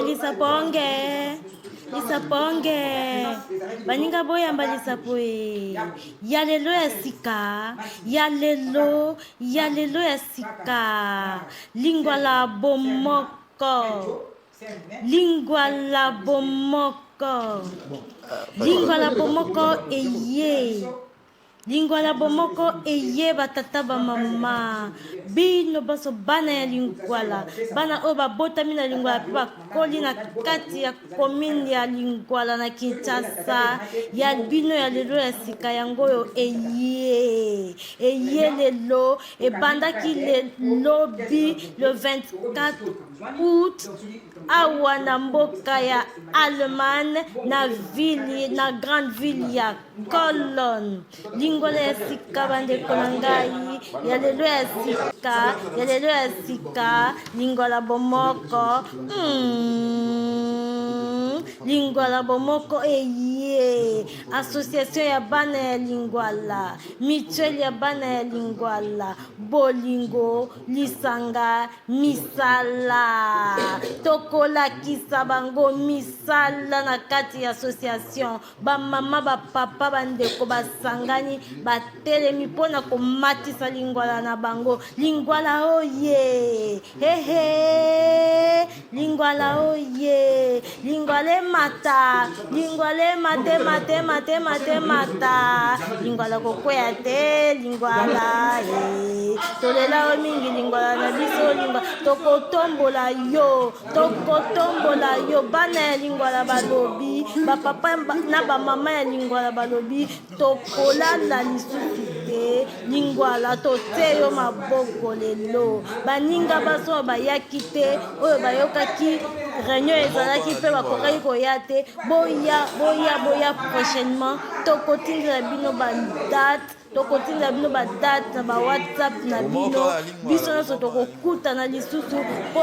lisaponge lisaponge baninga boyamba lisapo e ya lelo ya sika ya lelo ya lelo ya sika lingwala bomoko Lingwala bomoko. Lingwala bomoko eye. Lingwala bomoko eye batata ba mama. Bino baso bana ya lingwala. Bana oyo babotami na lingwala pe bakoli na kati ya commune ya lingwala na Kinshasa. Ya bino ya lelo ya sika yango oyo eye. Eye lelo ebandaki le lobi le 24 août awa na mboka ya allemagne na ville na grande ville ya colone lingolo ya sika bandeko na ngai ya lelo ya sika ya lelo ya sika lingola bomoko mm. lingwala bomoko eye association ya bana ya lingwala mutuelle ya bana ya lingwala bolingo lisanga misala tokolakisa bango misala na kati ya association bamama bapapa bandeko basangani batelemi mpo na komatisa lingwala na bango lingwala oye hehe Lingwala oye, lingwala emata, lingwala emate mate mate mate mata, lingwala kokwea te, lingwala e. Tolela yo mingi lingwala na biso lingwa, tokotombola yo, tokotombola yo. Bana ya lingwala balobi, bapapa na bamama ya lingwala balobi, tokolala lisusu te lingwala totie yo maboko lelo baninga baso bayaki te oyo bayokaki réunion ezalaki mpe bakokaki koya te boya boya boya prochainement tokotindela bino badate tokotindela bino badate na bawhatsapp na bino biso nyonso tokokutana lisusu mpo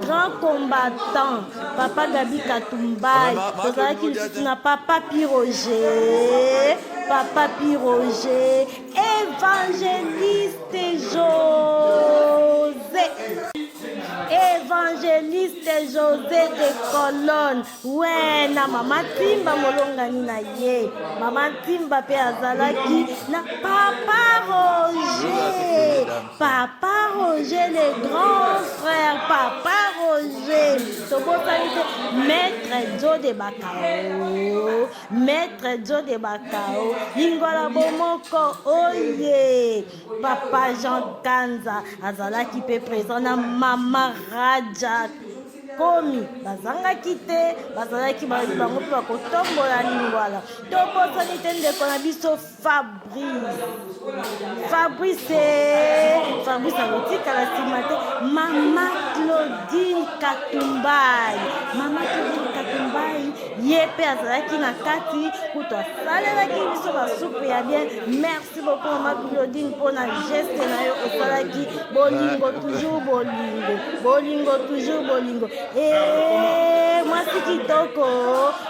Grand combattant papa Gabi Katumbayi tozalaki lisusu na papa Piroger papa Piroger évangéliste José évangéliste José de Colonne we na mama timba molongani na ye mama timba mpe azalaki na papa roger papa roger le grand frère papa roger tobotani te maître jo de bakao maître jo de bakao lingwala bomoko oye papa jean kanza azalaki mpe présent na mama raja komi bazangaki te bazalaki bayi bango mpe bakotombola lingwala tobosani te ndeko na biso fabrice fabrice fabrice akotikala nsima te mama claudine katumbai mama claudine katumbai ye mpe azalaki na kati kutu asalelaki biso basupu ya bien merci beaucoup mama claudine mpo na geste na yo osalaki bolingo toujours bolingo bolingo toujours bolingo eh, mwasi kitoko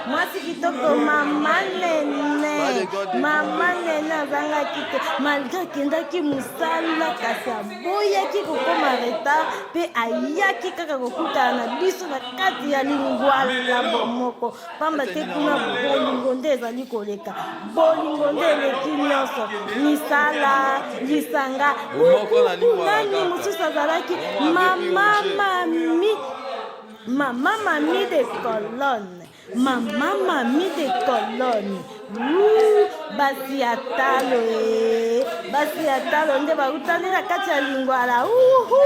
mwasi kitoko mama nene mama nene azangaki te malgre akendaki mosala kasi aboyaki kokoma retard mpe ayaki kaka kokutana na biso na kati ya lingwala moko pamba te kuna bolingo nde ezali koleka bolingo nde eleki nyonso misala lisanga nani mosusu azalaki mama mami mama mami de colonne mama mami de colonne basi ya talo e basi ya talo nde bautani na kati ya lingwala uhu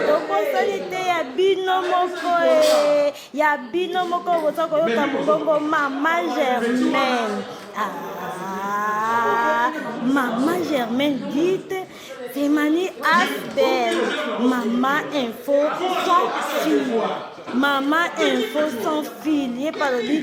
tokosali te ya bino moko e ya bino moko boza koyoka mongongo mama germaine ah, mama germaine dite Timani Asbel, Mama Info sans fil. Mama Info sans fil. Ye palobi